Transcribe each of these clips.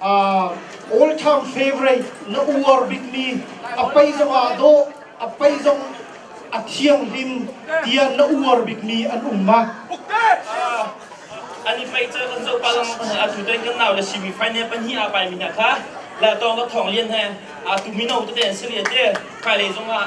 all time favourite na uar bikmi a pei zong ah dawh a pei zong a thianghlim tiah na uar bikmi an um ma? An i pei cun kan zoh pa lang atu ten kan nau le semi final pan hi a pai mi hna kha la tong ka thong lian he a tu mino te an si le te kai le zong ah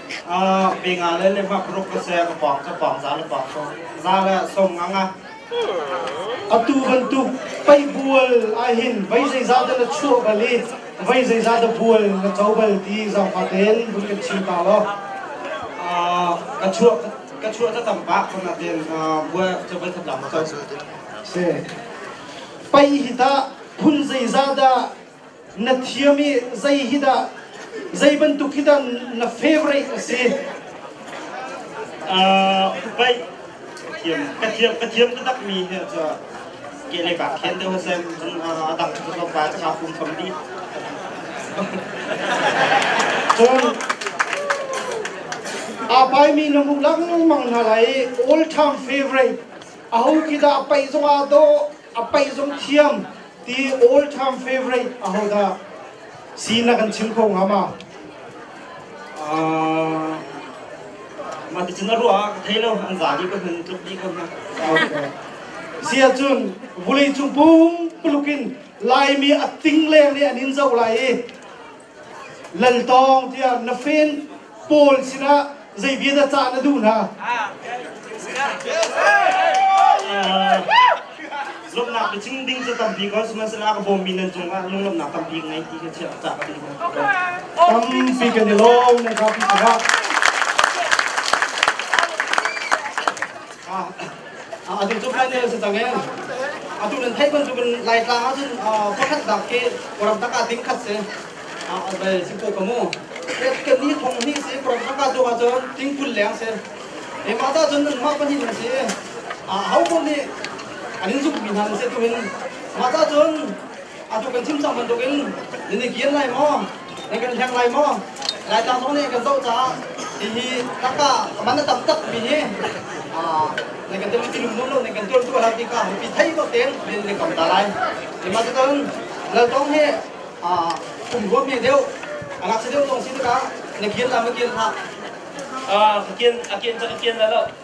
Pinga le levak ruk ka se ka pawng ka pawng za le pawng so za le som ngang a atu bantuk pei bual ahin vai zei za te la chuah bal i vai zei za te bual na co bal ti zong fa ten vun kan chim ta lo ka chuah ka chuah ta tam bak khom na ten bua cha bai thap lam ka se pei hi ta phun zei za da na thiam i zei hi dah zei bantuk hi dah na favorite a si? Uh, baik thiam ka thiam ka thiam ka tak mi hi cu ke le ka khen te ho sem a dang ko pa ka pum kham di cun a pai mi na hmuh lengmang hna lai all time favorite aho khi dah pai zong ah do a paih zong thiam ti all time favorite aho dah si na kan chim kho hnga ma mah ti cun a ruah ah ka thei lo an za dih ko hman tluk dih ko hna sia cun vulei cung pum puluk in laimi a ting leng nih an in zo lai i Laltawng tiah na fen pawl sinah zei viaza cah na duh hna? lomnak bicing ding cu tampi ko sihmanhsehlaw ka bawmmi nan cung ah lunglomnak tampi ka ngei ti kha chiah cah ka duh tampi kan i lawm nan kha pi sinah Atu cu Friday si cang in atu nan theih bantukin Laitlang ah cun pakhat dak khi kuram taka ting khat si bai si ko kamu kan ni thong ni si kuram taka tu ha cun ting kul leng si e ma ta cun an mah pahnih nan si a ho ko nih an in zuk mi hna nan si tu hin ma ta cun atu kan chim cang bantuk in nan i kian lai maw nan kan hleng lai maw laitlang zong nih kan zoh caah hihi naka man a tam takmi hi nan kan tel tinum nawn lo nan kan tuan tuah hlah ti ka mipi thei to ten men nan kam ta lai mah cun laltong hi kum ruam hi deuh angak si deuh tong si ka na kian la ma kian ha a kian a kian a kian la lo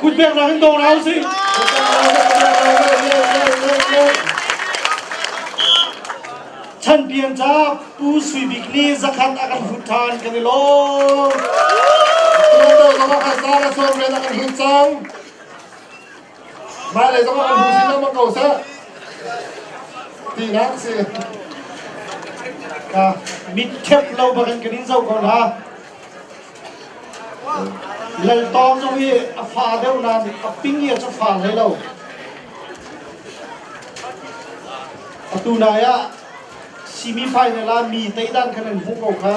Kut pek nak in dawr hau si. Chan pian ca Pu Sui Bik nih zakhat a kan hut than kan i lawm. Tuan dal lo ka sa na sawm ren a kan hut cang. Hmailei zongah kan hmuh chin lengmang ko seh tinak a si. Ka mit khep lo bak in kan in zoh ko hna. Lal Tawng zong hi a fa deuh nain a ping hi a cu fa hlei lo. Atu nai ah semi final ah mi teidan khan an hmuh ko kha.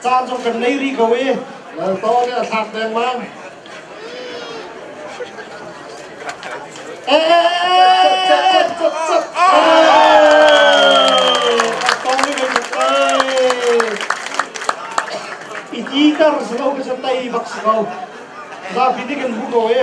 caan cu kan ngei rih ko i to nih a thlak dengmang i ti tar si lo ka san tei bak si ko zapi nih kan bu ko i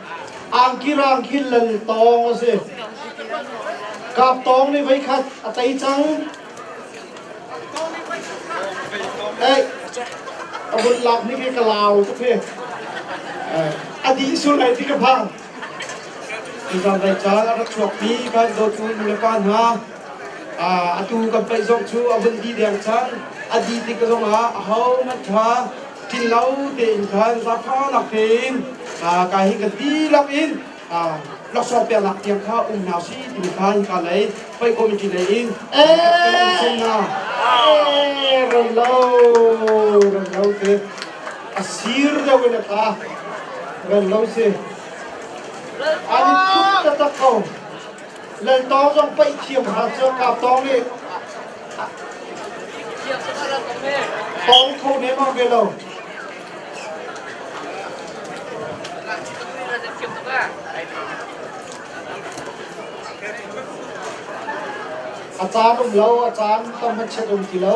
Angkirang khi lal tawng a si. Kap tawng nih voi khat a tei cang. Ei, a vun lak ni ke ka lau tuk hi. A dih sul ai ti ka phang. Tutan dai caan a rak chuakmi kan dawtu nu le pa hna. Atu kan paih zong cu a vun di deng cang. A di tik zong ah a ho hmanh tha tlinlo tein khan zaphangnak hin ka hi ka dihlak in laksawng peknak tiang kha um hna si timi kha hika lei pei committee lei in um hna run lo run lo te a sir deuh in a ta run lo si an i tuk taktak ko Lal Tawng zong paih thiam hna cu Kap Tawng nih Tawng kho nemang ve lo. A caan um lo, a caan tam hmanchiat um ti lo.